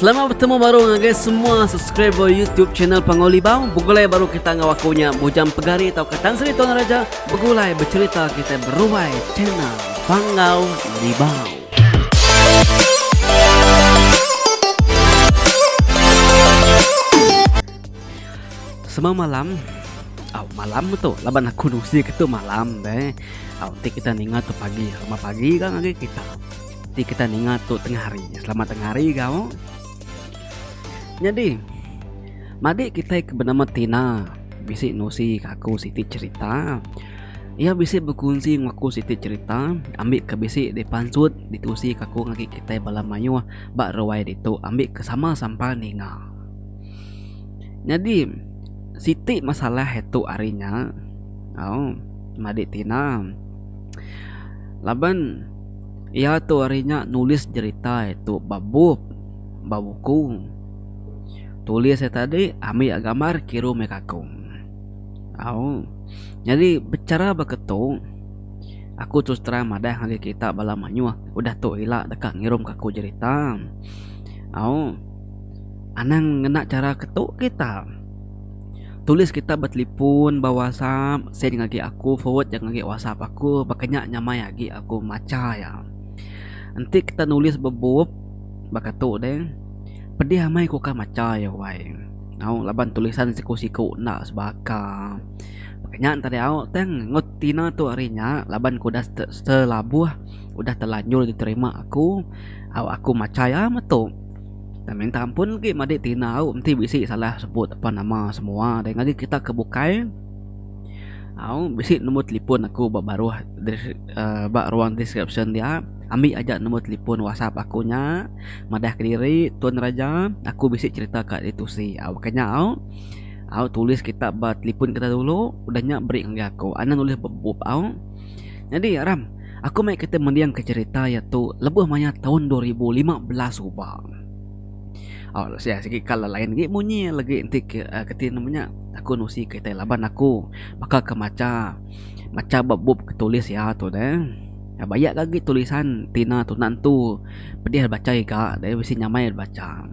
Selamat betemu baru ngagai semua subscriber YouTube channel Panggau Libau. Begulai baru kita enggau aku nya Bujang Pegari tauka Tan Sri Tuan Raja begulai becerita kita beruai channel Panggau Libau. Semua malam Au malam tu laban aku nusi ke tu malam deh. Au ti kita ninga tu pagi, lama pagi kan lagi kita. Ti kita ninga tu tengah hari. Selamat tengah hari kau. Nyadi madi kita ke bernama Tina bisi nusi ke aku siti cerita. Ia bisi berkunsi dengan aku siti cerita ambil ke bisi di pansut ditusi ke aku ngagi kita bala mayuh ba ruai ditu ambil ke sama sampai ninga. Nyadi siti masalah itu hari nya au madi Tina laban Iya tu ari nya nulis jerita iya tu ba bup ba buku tulis iya tadi ambi iya gambar kiruh meh aku au nyadi bichara baka tu aku terus terang madah ngagai kita bala mayuh udah tu ila deka ngirum ka aku jerita au anang ngena chara ke tu kita. Tulis kita ba telefon ba whatsapp send ngagi aku forward ja ngagi whatsapp aku baka nya nyamai agi aku macha iya. Enti kita nulis ba bup baka tu deh pedih amai ku ka macha iya wai tau laban tulisan siku siku enda sebaka baka nya enta deh au tang ngut tina tu ari nya laban ku dah telabuh udah telanjur diterima aku au aku macha iya metu. Tang minta ampun agi madik tina au enti bisi salah sebut apan nama semua deh ngagai kita ke bukai au bisi nombor telefon aku ba baruh uhh ba ruang description dia ambi aja nombor telefon whatsapp aku nya madah kediri tun raja aku bisi cerita ka diri tusi au baka nya au au tulis kitak ba telefon kita dulu udah nya beri ngagai aku anih nulis ba bup au nyadi ram. Aku meh kita mendingka cerita iya tu lebuh maya taun dua ribu lima belas suba. Oh, sia sigi kala lain lagi munyi lagi enti ke uh, keti nama nya aku nusi ke tai laban aku baka ke macha macha ba bup ke tulis ya tu deh. Ya baya lagi tulisan tina tuna entu pedih baca iga deh bisi nyamai baca.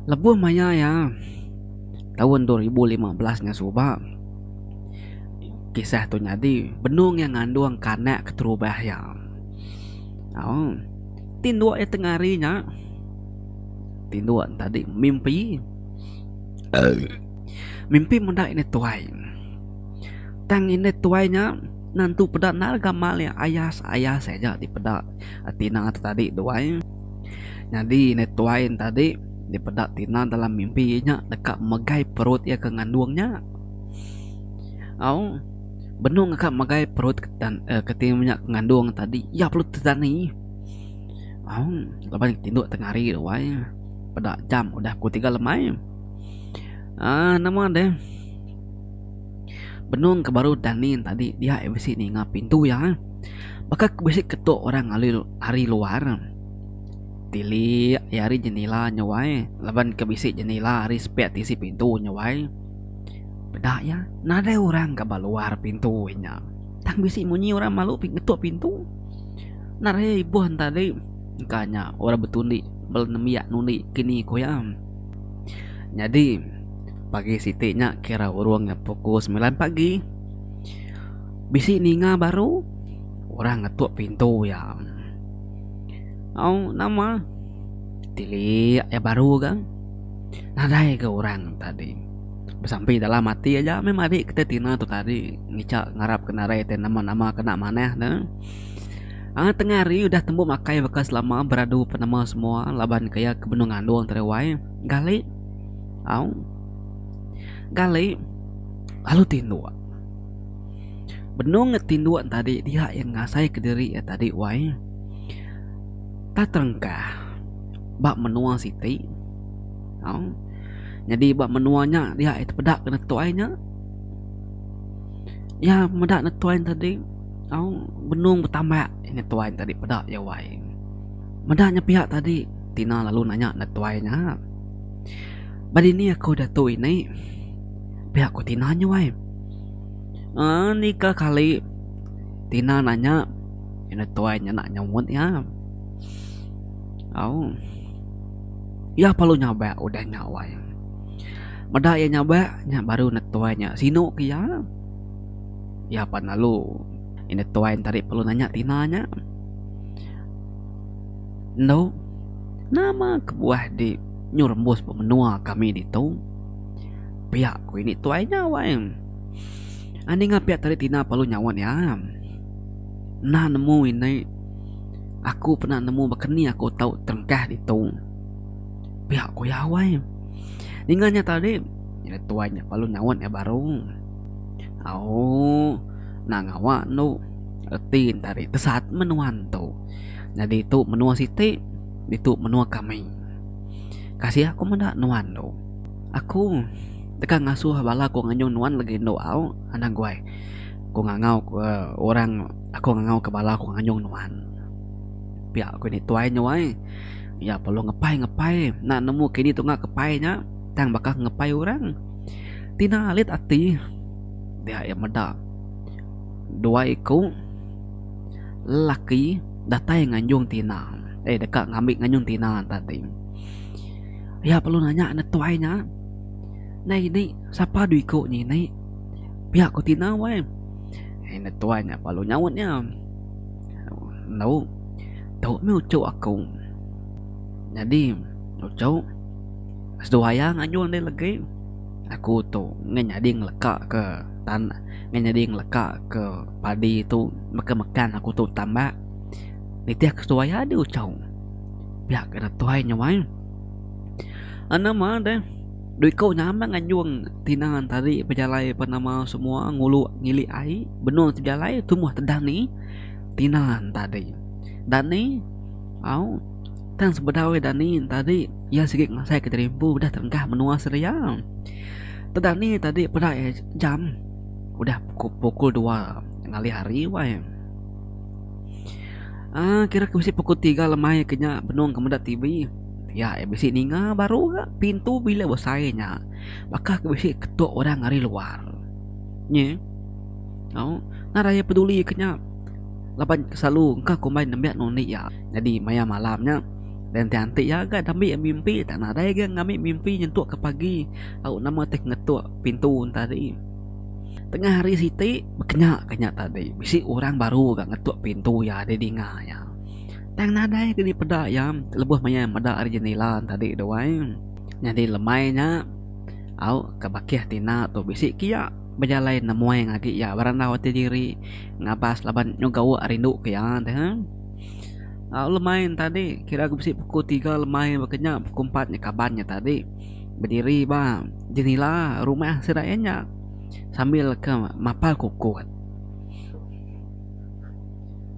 Lebuh maya ya taun 2015 nya suba Kisah tu nyadi benung iya ngandung kanak keterubah iya. Au. Tinduk iya tengah hari nya tinduk tadi mimpi mimpi meda indai tuai. Tang indai tuai nya nentu peda endar gamal iya ayas-ayas aja dipeda tina tu tadi tu ai. Nyadi indai tuai tadi dipeda tina dalam mimpi iya nya deka megai perut iya ke ngandung nya. Au benung ka megai perut ketin nya ke ngandung tadi iya perlu tetani au laban ke tindu tengah hari wai peda jam udah pukul tiga lemai aaa nama deh benung ke baru dani tadi dia ke bisi ninga pintu iya baka ke bisi ketu orang ari luar tilik ari jendela nya wai laban ke bisi jendela ari sepek tisi pintu nya wai. Peda iya, nadai orang ka ba luar pintu inya. Tang bisi munyi orang malu mih ngetuk pintu. Narehe ibuh enti tadi, engka nya orang betundi bala nembiak nundi kini ku iya. Nyadi pagi siti nya kira urung nya pukul semilan pagi. Bisi ninga baru orang ngetuk pintu iya. Au nama? Tilik iya baru ga. nadai ga orang tadi besampi dalam ati aja meh madi kitai tina tu tadi ngica ngarap ke narai tai nama nama kena manah ne aaa tengah hari udah tembu makai baka selama beradu penema semua laban ke iya ke benung ngandung tadi wai gali au gali lalu tinduk benung ne tinduk ne tadi dia yang ngasai ke diri iya tadi wai ta terengkah. ba menua siti tau nyadi ba menua nya dia aja tepeda ke netuai nya iya meda netuai nya tadi tau benung betambak netuai nya tadi peda iya wai meda nya pia tadi tina lalu nanya netuai nya ba dini aku diatu ini pia ku tina nya wai uhh ni ka kali tina nanya netuai nya nak nyambut iya. Au. Iya perlu nyabak udah nya wai. Meda iya nyabak nya baru netuai nya sinu ke iya. Iya pan lalu iya netuai enti ari perlu nanya tina nya. Endo nama kebuah di nyu rembus ba menua kami ditu. Pia ku ini tuai nya wai. Anih ngah pia tadi tina perlu nyaut iya. Enda nemu indai. Aku pernah nemu baka ni aku tau terengkah ditu. Pia ku iya awai. Ninga nya tadi, nyadi tuai nya lalu nyaut iya baru. Au, enda ngawa enu. Reti enta ri tesat menua entu. Nyadi tu menua siti, ditu menua kami. Kasih aku meda nuan tu. Aku deka ngasuh bala ku nganjung nuan legi enu au, Anang Guai. Ku ngangau ke orang. Aku ngangauka bala aku nganyung nuan. Pia ku ini tuai nya wai. Iya perlu ngepai ngepai enda nemu kini tunga ke pai nya tang baka ngepai orang. Tina alit ati dia iya meda dua iku lelaki datai nganjung tina eh deka ngambi nganjung tina tadi. Iya perlu nanya neg tuai nya Nai ini sapa dua iku nya ini? Pia ku tina wai. Enda tuai nya belalu nyaut nya. Endo, tu meh uchu aku. Nyadi uchu seduai iya ngayun deh legi aku tu ngeh nyadi ngeleka ke tan ngeh nyadi ngeleka ke padi tu baka mekan aku tu tambak nitih ke seduai iya deh uchu. Pia ke enda tuai nya wai. Anu meh deh. Dui ko nya amat nganjung tina entari bejalai pa nama semua ngulu ngilik ai benung ti bejalai tumbuh tedah ni tina entari dani au tang sebedau iya dani entari iya sigi ngasai ke diri empu udah terenggah menua seria tedah ni tadi peda iya jam udah pukul dua ngalih hari wai um kira ke bisi pukul tiga lemai ke nya benung ke meda TV. Iya iya bisi ninga baru ga pintu bila besai nya baka ke bisi ketuk orang ari luar nyi tau na raye peduli ke nya laban selalu engka kumbai nembiak ngundi iya nyadi maya malam nya lain ti anti iya ga da ambi mimpi tak nadai ga ngambi mimpi nyentuk ke pagi au nama ti ngetuk pintu tadi tengah hari siti bekenya ke nya tadi bisi orang baru ga ngetuk pintu iya di dinga iya. Tang nadai ke dipeda iya lebuh maya meda ari jendela tadi tu ai. Nyadi lemai nya au ka bakih tina tu bisi ke iya bejalai nemuai ngagi iya berandau ati diri ngabas laban nyuga uwa rindu ke iya te. Au lemai ne tadi kira ku bisi pukul tiga lemai baka nya pukul empat nya kaban nya tadi bediri ba jendela rumah sida iya nya sambil ke mapal kukut.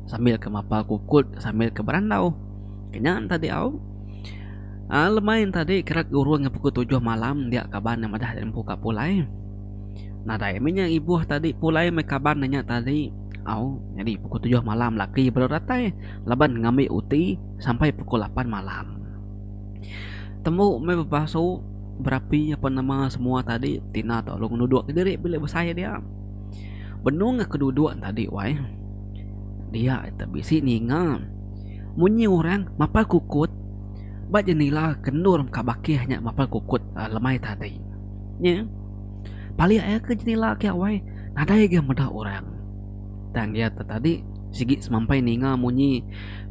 sambil ke mapa kukut sambil ke berandau kenya tadi au uh, lemai tadi kerat gurung ke pukul tujuh malam dia kaban yang madah empu ka pulai nadai minya ibuh tadi pulai mai kaban nya tadi au jadi pukul tujuh malam laki baru datai laban ngambi uti sampai pukul lapan malam tembu mai bepasu berapi apa nama semua tadi tina tolong nuduk diri bilik besai dia. Benung aku duduk ne tadi wai dia ita bisi ninga munyi orang mapar kukut ba jendela ke endur ka bakih nya mapar kukut lemai tadi nye palik aja ke jendela ke wai nadai ga meda orang tang iya te tadi sigi semampai ninga munyi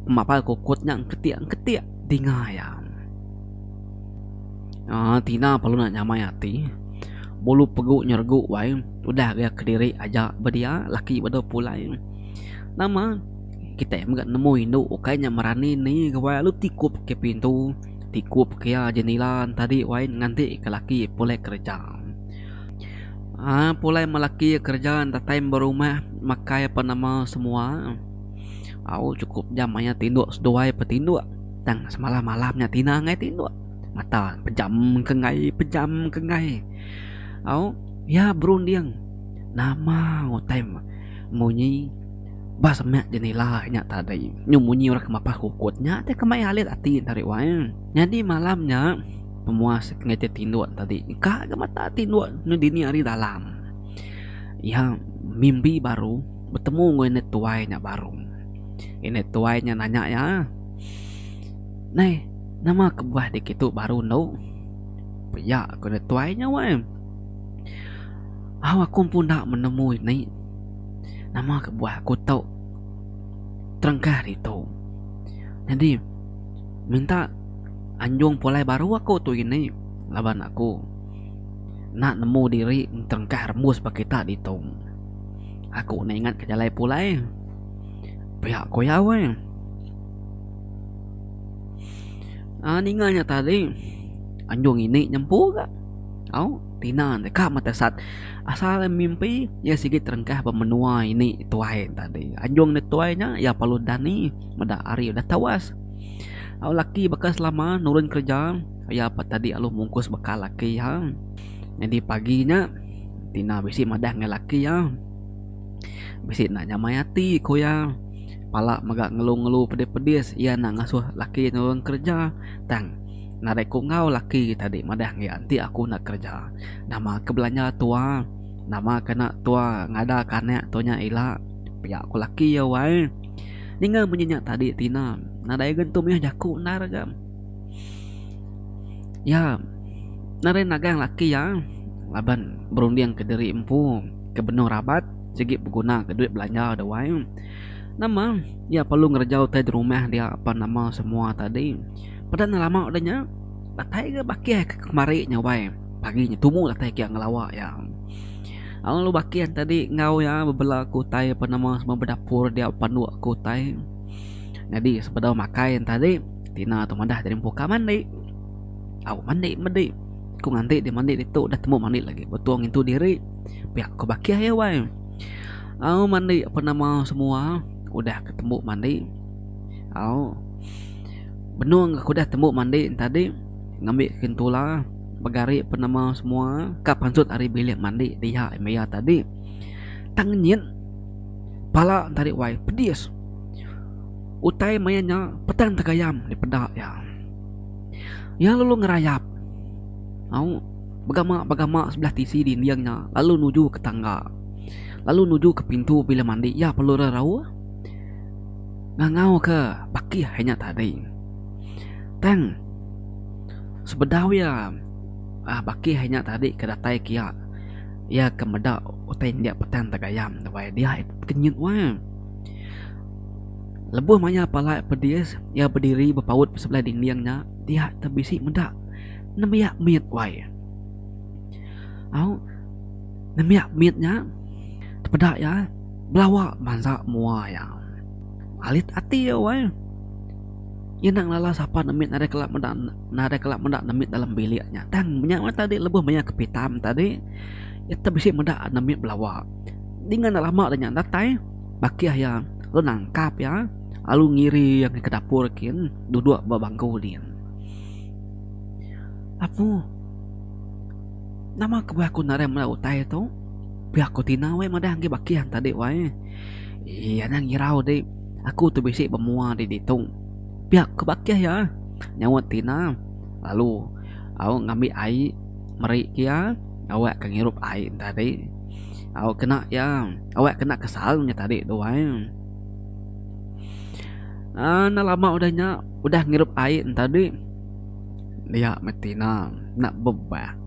mapar kukut nya engketik engketik dinga iya. Ah, tina perlu nak nyamai ati. Bulu pegu nyergu wai udah ga kediri aja ba dia laki ba dau pulai. Nama kitai mega nemu indu ukai nya merani ni ga wai lalu tikup ke pintu, tikup ke iya jendela tadi wai nganti ke laki pulai kereja. Ah, pulai meh laki kereja datai ba rumah makai apan nama semua. Au chukup jam mayat indu seduai pe tindu. Tang semalam malam nya tina angai tinduk mata pejam kenggai pejam kenggai au iya berunding nama utai munyi ba semak jendela nya tadi nyu munyi orang ke mapah kokot nya ti ke mai alit ati enda riwai nyadi malam nya pemuas ngai ti tinduk tadi ka ga mata tinduk ne dini hari dalam iya mimbi baru betemu ngan nenek tuai nya baru nenek tuai nya nanya iya. Nai, nama kebuah dikitu baru endo? Pia ku ne tuai nya wai. Au aku pun enda menemu indi nama kebuah aku tu terengkah ditu. Nyadi minta anjung pulai baru aku tu indi laban aku enda nemu diri terengkah rembus ba kita ditu. Aku nda ingat ke jalai pulai. pia ko iya weh um ninga nya tadi anjung ini nyempu ga au tina deka meh tesat asal mimpi iya sigi terengkah ba menua ini tuai tadi anjung ne tuai nya iya perlu dani meda hari udah tewas au laki baka selama nurun kerja iya pa tadi lalu mungkus bekal laki iya nyadi pagi nya tina bisi madah ngan laki iya. Bisi enda nyamai ati ku iya pala mega ngelu ngelu pedis pedis iya enda ngasuh laki iya nulung kerja tang narai ku enggau laki iya tadi madah agi enti aku enda kerja nama ke belanja tua nama ke enda tua ngada ke anak tua nya ila pia ku laki iya wai ninga munyi nya tadi tina nadai agi tu mih jaku endar ga. Iya naren nagang laki iya laban berundingka diri empu ke benung rabat sigi begunaka duit belanja da wai. Nama iya perlu ngereja utai da rumah dia apan nama semua tadi. Peda ne lama da nya datai ga bakih ke kemari nya wai pagi nya tumu datai ke ngelawa iya. Lalu bakih nya tadi enggau iya bebela ke utai apan nama semua bedapur dia apan dua ke utai nyadi sebedau makai nya tadi. Tina tu madah jadi empu ka mandi. Au mandi medi. Ku nganti di mandi ditu dah temu mandi lagi. Betul ngintu diri. Pia ku bakih ya wai. Au mandi apa nama semua udah ketemu mandi. Au benung aku dah temu mandi tadi ngambi kentula begari apa nama semua ka pansut ari bilik mandi dia maya tadi. Tang nyit pala tadi wai pedis. Utai maya nya Petang Tegayam dipeda iya. Iya lalu ngerayap au begama-begama sebelah tisi dinding nya lalu nuju ke tangga lalu nuju ke pintu bilik mandi iya perlu rerauh ngangauka bakih iya nya tadi. Tang sebedau iya aaa bakih iya nya tadi ke datai kiya iya ke meda utai indik Petang Tegayam tu ai diak nya kenyit wang. Lebuh mayar palai pedis, iya bediri bepaut besebelah dinding nya dia te bisi meda nembiak mit wai. Au nembiak mit nya tepeda iya belawa mansa mua iya. Alit ati iya wai. Iya enda ngelala sapa nemit nadai kala meda nadai kala meda nemit dalam bilik nya. Tang nya mah tadi lebuh mayar kepitam tadi iya te bisi meda nemit belawa. Dingan enda lama nya datai. bakih iya lalu nangkap iya lalu ngiri iya meh ke dapur kin duduk ba bangku din. Apu nama kebuah aku nadai meda utai tu pia ku tina weh madah agi bakih anta dik wai iya nya ngirau dik aku tu bisi ba mua dik ditu pia ku bakih iya nyaut tina lalu au ngambi ai meri ke iya awak ke ngirup ai enta dik. Au kena ya. Awak kena kesal nya tadi tu ai. Ah, enda lama udah nya, udah ngirup ai nya tadi, dia meh tina enda bebah.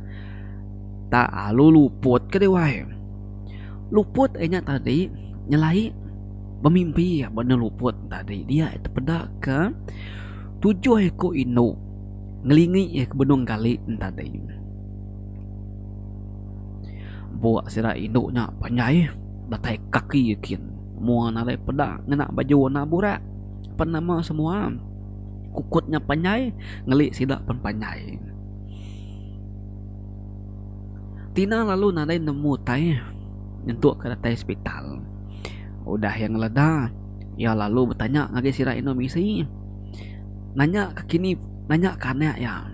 Tak alu luput ke dia wai. Luput inya tadi nyelai bemimpi ba enda luput tadi. Dia tepeda ke tujuh iku indu ngelingi iya ke benung gali nya tadi. Bua sida indu nya panjai datai kaki kin mua narai peda ngena baju enda burak pen nama semua kukut nya panjai ngeli sida pen panjai. Tina lalu nadai nemu utai nyentuk ke datai hospital udah iya ngeleda iya lalu betanya ngagai sida indu misi nanya ke kini nanya ke anak iya.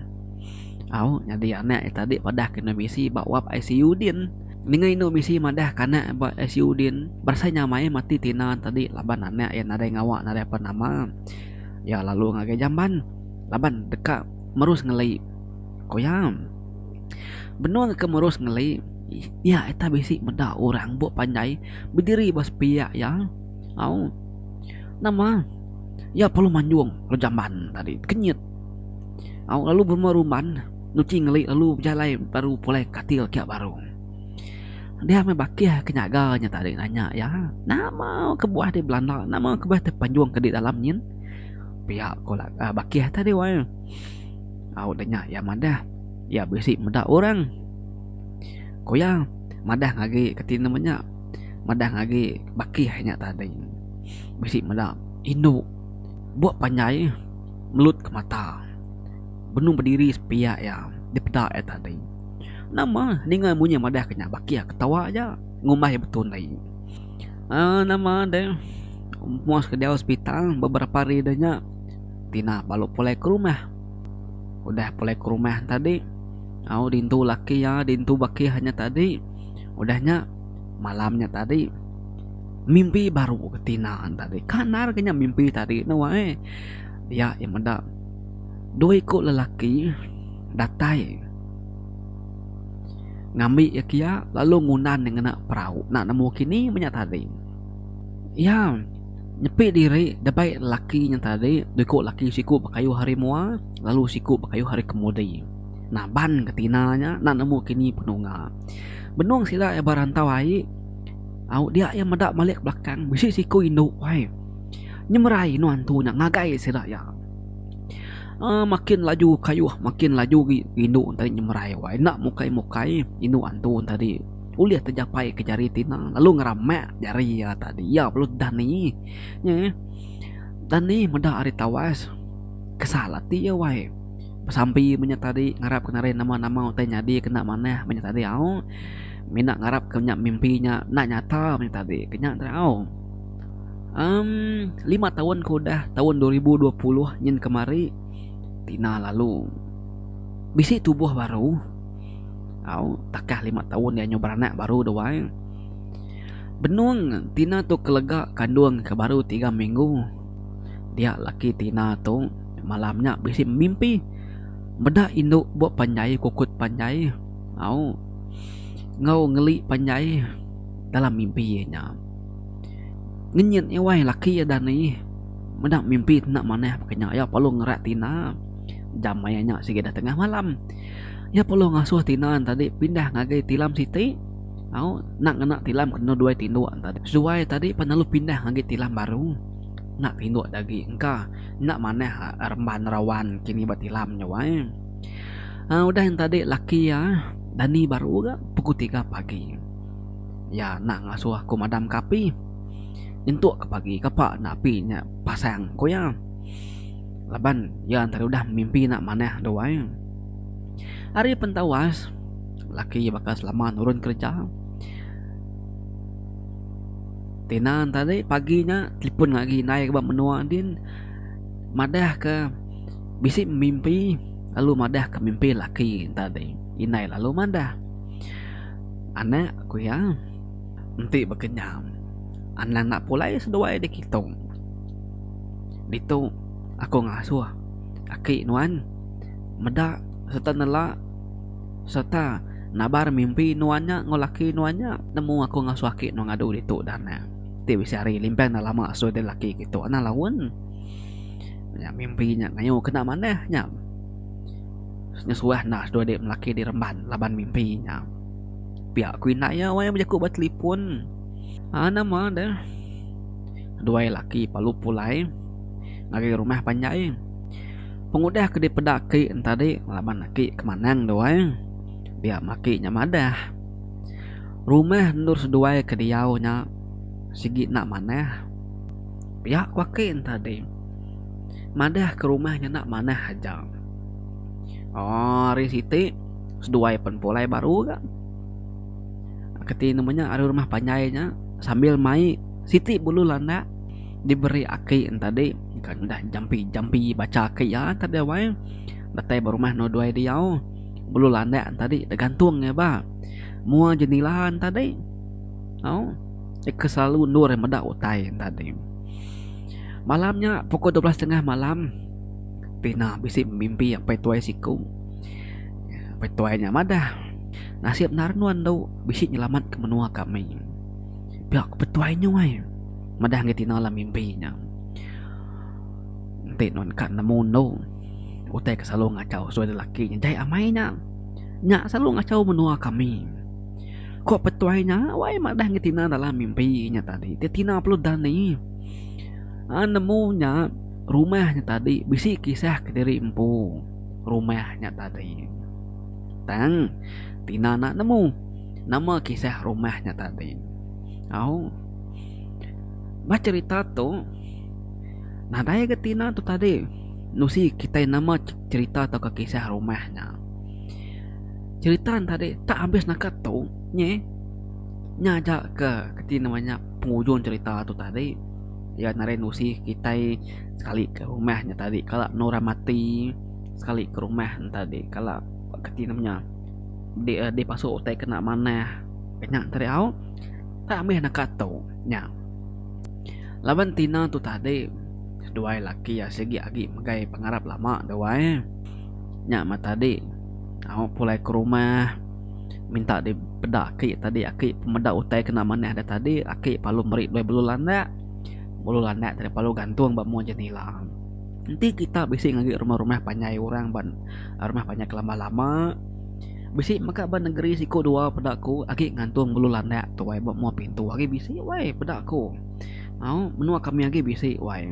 Au nyadi anak iya tadi padah ke endur bisi ba wap ICU din. Ninga indu bisi madah ke anak ba ICU din, berasai nya mai mati tina tadi laban anak iya nadai ngawa nadai apan nama. Iya lalu ngagai jamban laban deka merus ngeli, ku iya. Benung ke merus ngeli, iya ita bisi meda orang buk panjai bediri ba sepiak iya. Au nama iya perlu manjung lalu jamban tadi kenyit. Au lalu berumah ruman nuchi ngeli lalu bejalai baru pulai katil kia baru. Dia meh bakih ke nyaga nya tadi nanya iya, Nama kebuah deh belanda nama kebuah deh panjung ke di dalam nyin? Pia ko bakih tadi wai. Au deh nya iya madah, Iya bisi meda orang. Ko iya madah ngagi ke tine meh nya madah ngagi bakih nya tadi. Bisi meda indu buk panjai. melut ke mata. Benung bediri sepiak iya dipeda iya tadi. Nama ninga munyi madah ke nya baki iya ketawa aja ngumbai iya betun ai. Aaa nama deh muas ke diau sepital beberapa hari deh nya Tina balu pulai ke rumah. Udah pulai ke rumah tadi au dintu laki iya dintu bakih iya tadi udah nya malam nya tadi mimpi baru ke Tina tadi. Kan nar ke nya mimpi tadi ne wak ai. Iya iya meda dua iku lelaki datai ngambi iya kia lalu ngundan iya ngena perau enda nemu kini meh nya tadi. Iya nyepi diri dabai lelaki nya tadi dua iku lelaki siku bekayuh ari mua lalu siku bekayuh ari kemudi naban ke tina nya enda nemu kini penungga. Benung sida iya ba rantau ai au dia iya meda malik ke belakang bisi siku indu ai. Nyemerai nuan tu nya ngagai sida iya. Aa makin laju kayuh makin laju agi indu tadi nyemerai wai enda mukai-mukai indu antu tadi ulih tejapai ke jari ti ina lalu ngeramak jari iya tadi iya baru dani nya eh dani meda ari tawas kesal ati iya wai besampi meng nya tadi ngarap ke narai nama-nama utai nyadi kena manah meng nya tadi au mina ngarap ke nya mimpi nya enda nyata meng nya tadi ke nya tau. Um lima taun ke udah taun dua ribu dua puluh nyin kemari ti ina lalu bisi tubuh baru au takah lima taun iya nyau beranak baru dah wai benung ti ina tu kelega kandung ke baru tiga minggu dia laki ti ina tu malam nya bisi mimpi meda indu buk panjai kukut panjai au enggau ngeli panjai dalam mimpi iya nya. Ngenyit iya wai laki iya da nih meda mimpi enda manah baka nya iya perlu ngerat tina jamai nya siget da tengah malam iya perlu ngasuh tina tadi pindah ngagai tilam siti au enda ngena tilam ke duai tinduk tadi seduai tadi pan lalu pindah ngagai tilam baru enda tinduk da agi engka enda manah remban rawan kini ba tilam nya wai udah nya tadi laki iya dani baru ga pukul tiga pagi. Iya enda ngasuh aku madamka api. Nyentuk ke pagi kapa enda api nya pasang, ku iya. Laban iya ntari udah mimpi enda manah dau ai. Ari pentawas, laki iya baka selama nurun kereja. Tina ne tadi pagi nya telefon ngagai indai ke ba menua din madahka bisi mimpi lalu madahka mimpi laki ne tadi. Indai lalu madah. Anak, ku iya, enti baka nya, anang enda pulai seduai dikitu. Ditu aku ngasuh aki nuan meda sereta nela sereta nabar mimpi nuan nya enggau laki nuan nya. Nemu aku ngasuh aki nuan ngadu ditu dah anang. Enti bisi hari limpang enda lama sui diri laki kitu anang laun. Nya mimpi nya ngayuh ke enda manah nya. Senyusuah enda seduai diri melaki di remban laban mimpi inya. Pia ku indai iya wang iya bejaku ba telefon. Aa nama deh. Duai laki palu pulai ngagai rumah panjai. Pengudah ke dipeda aki ne tadi laban aki ke manang duai dia meh aki nya madah. Rumah endur seduai ke diau nya sigi enda manah. Pia ku aki ne tadi. Madah ke rumah ngena manah aja. Ari siti seduai pen pulai baru ga keti nama nya ari rumah panjai nya sambil mai siti bulu landak diberi aki ne tadi kan udah jampi jampi bacha aki iya tadi wai datai ba rumah endur duai diau bulu landak ne tadi da gantung iya ba mua jendela ne tadi tau ika selalu endur iya meda utai ne tadi. Malam nya pukul dua belas tengah malam Tina bisi bemimpi apai tuai siku. Apai tuai nya madah, Nasib endar nuan tu bisi nyelamat ke menua kami. Pia ku petuai nyu ai madah ngagai Tina dalam mimpi nya. Enti nuan ka nemu enu utai ke selalu ngachau sui anak lelaki nya jai amai nya. Nya selalu ngachau menua kami. Ku petuai nya wai madah ngagai Tina dalam mimpi nya tadi. Tina perlu dani. Ha nemu nya rumah nya tadi bisi kisah kediri empu rumah nya tadi. Tang tina enda nemu nama kisah rumah nya tadi. Au ba cherita tu nadai ga tina tu tadi nusi kitai nama cherita atau pun kisah rumah nya. Cherita nya tadi tak habis naka tu nyi nya aja ke reti nama nya. pengujung cerita tu tadi iya nadai nusi kitai sekali ke rumah nya tadi kala enda orang mati sekali ke rumah nya tadi kala reti ne menya di dipasu utai kena manah nya tariau tak mih naka tu nya laban tina tu tadi seduai laki iya sigi agi ngagai pengarap lama duai nya mah tadi au pulai ke rumah. minta di peda aki tadi aki pemeda utai kena manah da tadi aki palu meri dua belu landak belu landak tadi palu gantung ba mung jenila enti kita bisi ngagai rumah rumah panjai orang ba rumah panjai ke lama lama bisi meka ba negeri siko dua peda ku agi gantung belu landak tuai ba mung pintu agi bisi wai peda ku au menua kami agi bisi wai.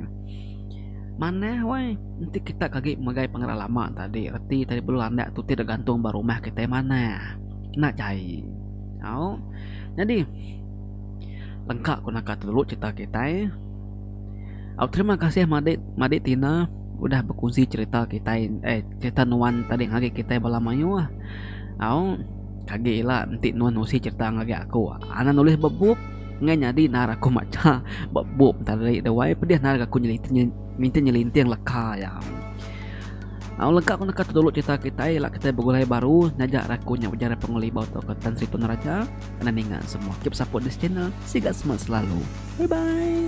Manah wai, enti kita kagi megai pengeran lama tadi reti tadi perlu landak tu ti dok gantung ba rumah kitai manah. Enda jai. Au. Nyadi lengka ku naka tu dulu cerita kitai. Au terima kasih madik madik Tina udah bekunsi cerita kitai eh cerita nuan tadi ngagai kitai bala mayuh. Au kagi ila enti nuan nusi cerita ngagai aku anak nulis ba bup. Ngai nyadi nar aku macha ba bup tadi da wai pedih nar ga aku minta nyelinting leka iya. Au lega ku neka dulu cerita kitai ila kitai begulai baru nyaja raku nya ujar pengelibau tu ke Tan Sri Tun Raja kena ninga semua keep support this channel siga semangat selalu bye bye.